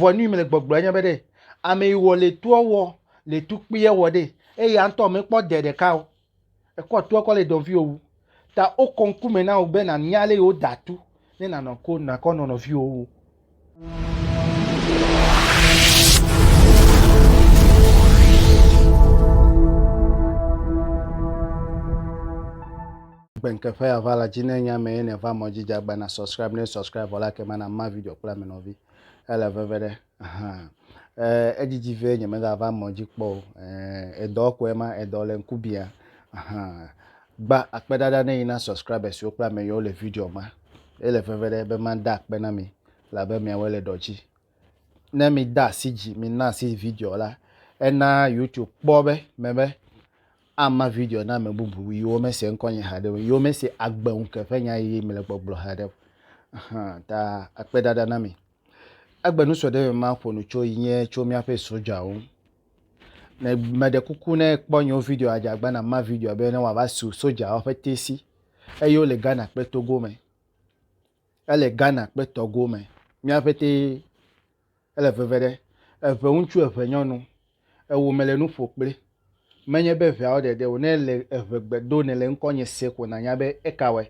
Vɔ nu yi mele gbɔgblɔ enye be ɖe, ame yi wɔ le toɔ wɔ le tukpuiɛ wɔ ɖe, eye ya ŋtɔ mekpɔ dɛ ɖeka o. Ekɔ toɔ kɔ le nɔviwo wu. Ta wokɔ ŋku me na wò be nànya lé yi wo da tu ne nànɔ ko nàkɔ nɔ nɔviwo wu. Gbenkeƒe ya va la dzi ne nye ame ye ne va mɔ dzi dza gba na subscribe ne subscribe vɔ la ke ma na ma video kple ame nɔvi. Ele veve ɖe ahan eer edzidzi vɛ nyemegava mɔ dzi kpɔ o eer edɔ kɔe ma edɔ le ŋku bia ahan gba akpe ɖaɖa ne yi na subscribers wo kple ame yiwo le video ma ele veve ɖe be mada akpe na mi labe miawo le dɔ dzi ne mi da asi dzi mi na asi video la ena youtube kpɔ be me be ama video na ame bubu yiwo mese ŋkɔnye haɖe o, yiwo mese agbe ŋuke ƒe nya yi mele gbɔgblɔ haɖe o. Hã ta akpe ɖaɖa na mi. Egbe nu sɔ ɖe me maƒo nu tso yi nye tso míaƒe sojawo ŋu. Ne meɖe kuku ne kpɔ nyewo video adze agba na ma video be ne wòava su sojawo ƒe tesi eye wole Ghana kple Togo me. Ele Ghana kple Togo me. Mía ƒetee ele veve ɖe. Eve ŋutsu, eve nyɔnu. Ewò mele nu ƒo kple. Menye be eveawo ɖeɖe o. Ne èle eve gbe dom ne le ŋkɔnye se ko nànya be eka wɔe.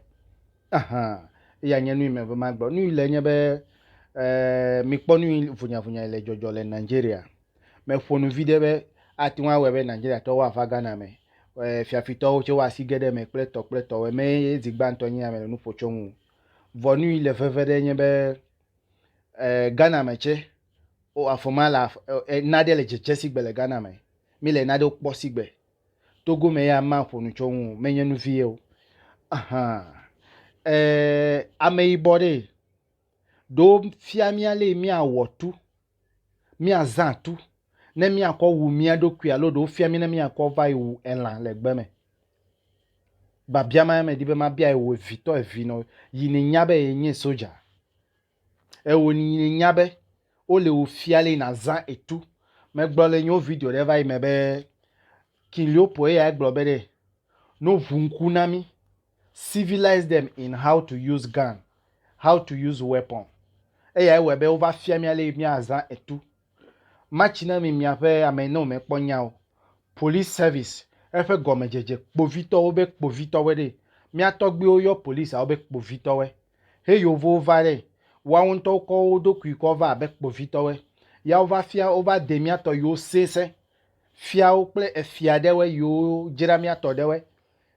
Aha! Eya nye nui meva magblɔ. Nui le enye be, ɛɛ, mikpɔ nui vunyavunyae le dzɔdzɔ le Nigeria. Meƒo nu viɖe be ate ŋu awɔe be Nigeriatɔwo ava Ghana me. Ɛ, fiafitɔwo tsɛ woa asi ge ɖe eme kple tɔ kple tɔwo. Emee ye zi gbãtɔ nye ya mele nu ƒo tso eŋu. Vɔ nu yi le veve ɖe nye be, ɛ, Ghana me tsɛ, wo, afɔ ma la, ɛ, naɖe le dzedze sigbe le Ghana me. Míle naɖewo kpɔ sigbe. Togo me ya maƒo nu tso eŋu o, menye nu vie o. Ahan. Ɛ, ameyibɔ ɖee. Ɖo fia mí ale míawɔ tu, míazã tu ne míakɔ wu mía ɖokui alo ɖo fia mí ne míakɔ va yi wu elã le gbe me. Biabia ma medi be mabia ewò evitɔ evi nɔ yi nènya be enye soja. Ewò yi nènya be wole wò fia le nàzã etu. Megblɔ le nyo video ɖe va yi me be King Leopold eyae gblɔ be ɖe no ŋu ŋku na mí. civilize them in how to use gun, how to use weapon. Eyae wɔe be wova fia mía lé míazã etu. Matsi na mi miaƒe ame yi ne wòmekpɔ nya o. Police service, eƒe gɔmedzedze, kpovitɔwo be kpovitɔwe ɖee. Mía tɔgbuiwo yɔ policeawo be kpovitɔwe. He Yevuwo va ɖee. Woawo ŋutɔ wokɔ wo ɖokui kɔ va abe kpovitɔwe. Ya wova fia, wova de mía tɔ yiwo sesẽ, fiawo kple efia ɖewe yiwo dzra mía tɔ ɖewe.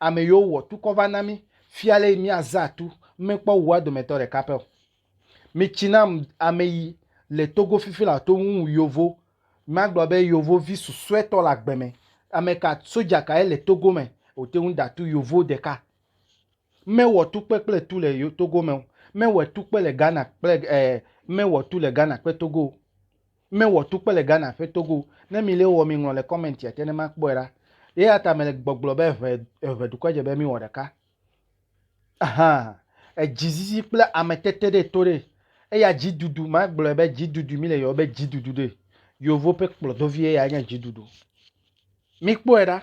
ame yiwo wɔ tukɔ va na mí fia lé míaza tu mɛkpɔ wu woa dometɔ ɖeka pɛ o. Mi tsi nam ame yi le Togo fifi la to ŋu wu yovo, magblɔ be yovo vi susuɛtɔ le agbe mɛ. Ameka, soja ka ye le Togo mɛ wote ŋu da tu yovo ɖeka? Mɛ wɔ tukpe kple tu le Togo mɛ o, mɛ wɔ tukpe le Ghana kple eh, mɛ wɔ tu le Ghana kpe Togo o. Me wɔ tukpe le Ghana ƒe togo. Ne mi le wɔ mi ŋlɔ le comment ya te ne ma kpɔe ɖa. Eyata me le gbɔgblɔ be eʋe eʋe dukɔa dze be mi wɔ ɖeka. Ahaa. Edzi zizi kple ame tete ɖe to ɖe. Eya dzi dudu ma gblɔe be dzi dudu mi le yɔ be dzi dudu ɖe. Yovo ƒe kplɔdovi eya nye dzi dudu. Mi kpɔe ɖa.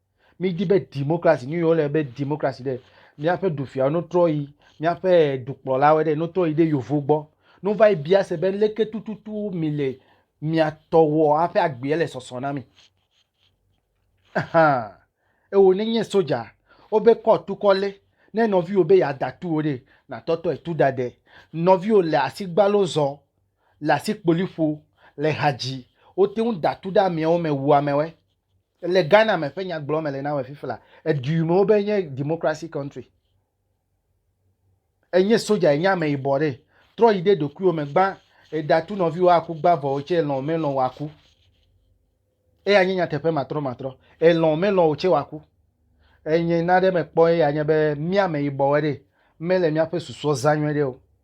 Mídi be demokrasi, nu yi wole be demokrasi ɖe, míaƒe dufiawo no trɔ yi míaƒe dukplɔlawo ɖe no trɔ yi ɖe yovo gbɔ no va yi bia se be leke tututu mi le mia tɔ wɔ hafi agbea le sɔsɔ na mi. Ahan. Ewo ne nye soja, wobe kɔ tu kɔ lé. Ne nɔviwo be yeada tu wo ɖe, natɔtɔe tu da de. Nɔviwo le asigbalo zɔ, le asikpoli ƒo, le ha dzi, wote ŋu da tu ɖe ameawo me wu amewe. Le Ghana me ƒe nyagblɔ me le na wɔ fifla. Edui me wobe nye democracy country. Enye soja enye ame yibɔ ɖe. Trɔ yi ɖe ɖokuiwo me gbã edatu nɔviwo aku gbã vɔ wotse lɔn melɔn waku. Eya nye nyateƒe matrɔ matrɔ. Elɔn melɔn wotse waku. Enye na ɖe mekpɔ eya nye be mía ame yibɔwe ɖe mele míaƒe susɔ zã nyuie ɖe o.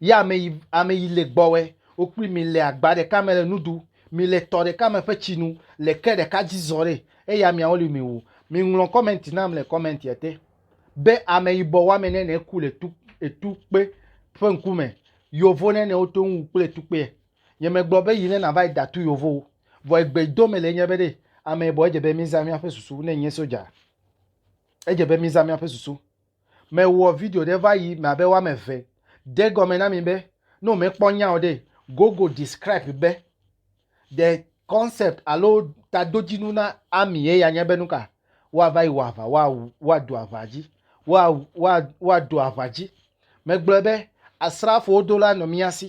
Yɛ ame yi, ame yi le gbɔwɛ wo kpli mi le agba ɖeka me le nu ɖu. Mi le tɔ ɖeka me ƒe tsi nu le ke ɖeka dzi zɔ ɖɛ. Eya miawo li mi wu. Mi ŋlɔ kɔmɛnti nam le kɔmɛntia te be ameyibɔ woame nɛnɛ ku le tu, etu kpe ƒe ŋku me. Yovo nɛnɛ wo to ŋ wu kple etu kpeɛ. Nye me gblɔ be yi ne na va yi da tu yovo o. Vɔ egbe yi do me le enye be ɖe ameyibɔ edze be mi zã miaƒe susu ne nye soja. Edze be mi zã miaƒe susu. Mewɔ video ɖe va yi me abe woame eve. De egɔme na mi be, ne wòmekpɔ nya o ɖe, Google describe be the concept alo tadodzinu na army ye ya nye be nuka? Woava yi wɔ aʋa, woawu, woadu aʋa dzi, woawu, woa, woadu aʋa dzi. Megblɔe be, asrafowo do la nɔ mía si.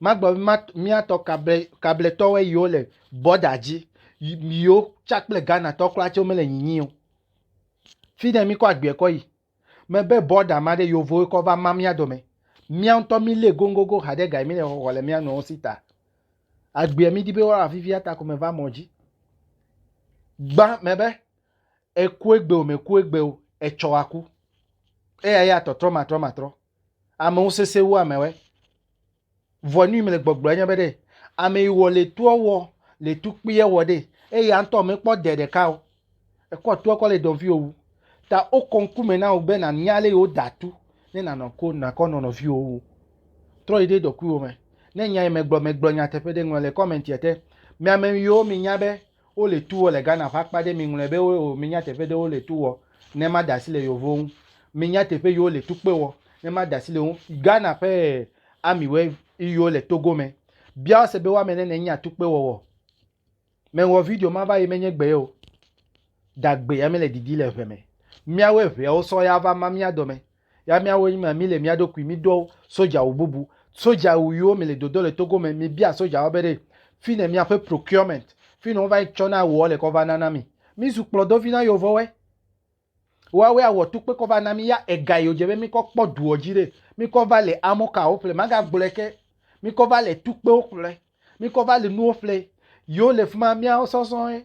Magblɔ be ma, míatɔ kable, kabletɔwoe yiwo le bɔda dzi, yiwo tsa kple Ghana tɔ kura tse womele nyinyi o. Fi ɖe mi kɔ agbeɛ kɔ yi. Mebe bɔda ma ɖe yovoe kɔ va ma mía dome. Mía ŋutɔ mi lé goŋgogo haɖe gaye mi le xɔxɔ le mía nɔewo si ta. Agbeɛ mi di be woa vivi ata ko me va mɔ dzi. Gbã mebe ekue gbe o, mekue gbe o, etsɔ aku. Eya ya tɔtrɔ matrɔ matrɔ. Amewo sese wu amewɛ. Vɔ nu yi mele gbɔgblɔ enye be ɖe ame yi wɔ le toa wɔ le tukpuia wɔ ɖe eye ya ŋutɔ mekpɔ de ɖeka o. Ekɔ toa kɔ le nɔviwo wu. Ta wokɔ ŋkume na wò be nànya ale yi woda tu ne nànɔ ko nàkɔ nɔ nɔviwo wu. Trɔ yi ɖe ɖokuiwò me. Ne nya yi megblɔ megblɔ nyateƒe ɖe ŋlɔ le kɔmɛntia te. Mi ame yiwo minya be Wo le tu wɔ le Ghana ƒe akpa ɖe. Mi ŋlɔe be wo o mi nya teƒe ɖe wo le tu wɔ ne ma da asi le yovowo ŋu. Mi nya teƒe yi wo le tu kpe wɔ ne ma da asi le wo ŋu. Ghana ƒe army we yi wo le Togo me. Bia wo se be wo ame ne ne nya tu kpe wɔwɔ. Me wɔ video ma va yi me nye gbe ye o. Da gbe ya me le didi le ŋe me. Mia wo eŋea wo sɔ ya va ma mia dɔ me. Ya míawo nyi ma míle mía ɖokui míɖɔ sodzawu bubu. Sodzawu yiwo mele dodo le Togo me, mibia sodzawo be ɖe fi ne miaƒe procurement, fi ne wova yi tsɔna awua le kɔ va nana mi. Mízu kplɔdovi na yovowɔe. Woawoe awɔ tukpe kɔ va na mí. Ya ega yi wodze be míkɔ kpɔ duɔ dzi ɖe, míkɔ va le amɔkawo ƒle. Magagblɔe ke. Míkɔ va le tukpewo ƒle. Míkɔ va le nuwo ƒle. Yiwo le fi ma, míawo sɔsɔe.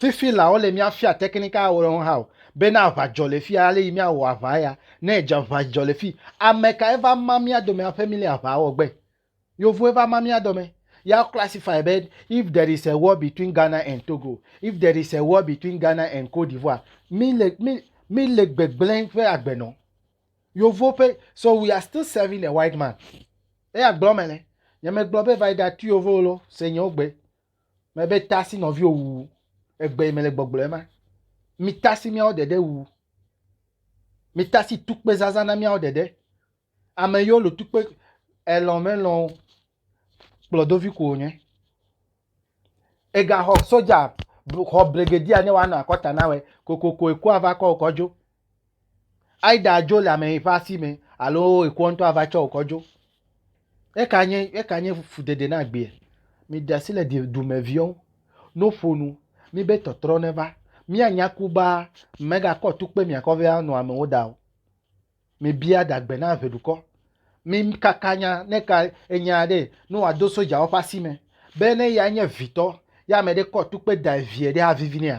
Fifi la, wole mía fia tekinika aɖewo ɖe ŋu hã o, be ne aʋa dzɔ le fia, ale yi mía wɔ aʋa ya, ne edze aʋa dzɔ le fi, ame kae va ma mía dome aƒe mí le aʋa wɔ gbe? Yevuwoe va ma mía dɔme. Ya classify be if there is a war between Ghana and Togo, if there is a war between Ghana and Cote d'Ivoire, mí le mí mí le gbegblẽ ƒe agbe nɔ. Yevuwo ƒe so we are still serving a white man. Eya gblɔ me le. Nyemegblɔ be va yi ɖa tu yevuwo lo, se nyewo gbe. Me be tasi nɔviwo wu egbe yi me le gbɔgblɔ ema. Mi tasi miawo ɖeɖe wu. Mi tasi tukpezaza na miawo ɖeɖe. Ame yiwo le tukpe elɔ̃ melɔ̃ o kplɔdovi ko wònye. Egaxɔ soja xɔ brigedia ne woanɔ akɔta nawoe kokoko ekua va kɔ wò kɔ dzo. Aida adzo le ame ƒe asi me alo ekɔ ŋutɔ ava tsɔ wò kɔ dzo. Eka nye eka nye fudede na agbea? Miɖe asi le di dumeviwo ŋu. No ƒo nu mibe tɔtrɔ neva. Míanya ku ba megakɔ tukpe miakɔ vɛ anɔ amewo da o. Mibia dagbe na ʋe dukɔ. Mikaka nya ne ka enya aɖe ne wòado sodzawo ƒe asi me be ne ya nye vitɔ ye ame aɖe kɔ tukpe da evia ɖe avivi nɛa?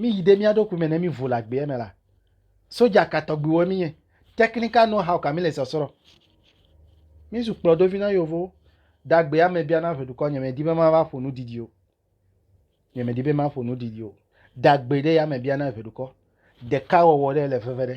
Míyi ɖe mía ɖokui me ne mívo le agbea me la, sodza ka tɔgbiwoe mínye? Technical know-how ka míle sɔsrɔ̃? Mízu kplɔdovi na yevowo. De agbea me bia na ʋe dukɔ, nyemedi be mava ƒo nu didi o. Nyemedi be maƒo nu didi o. De agbe ɖe yame bia na ʋe dukɔ. Ɖekawɔwɔ ɖe le veve ɖe.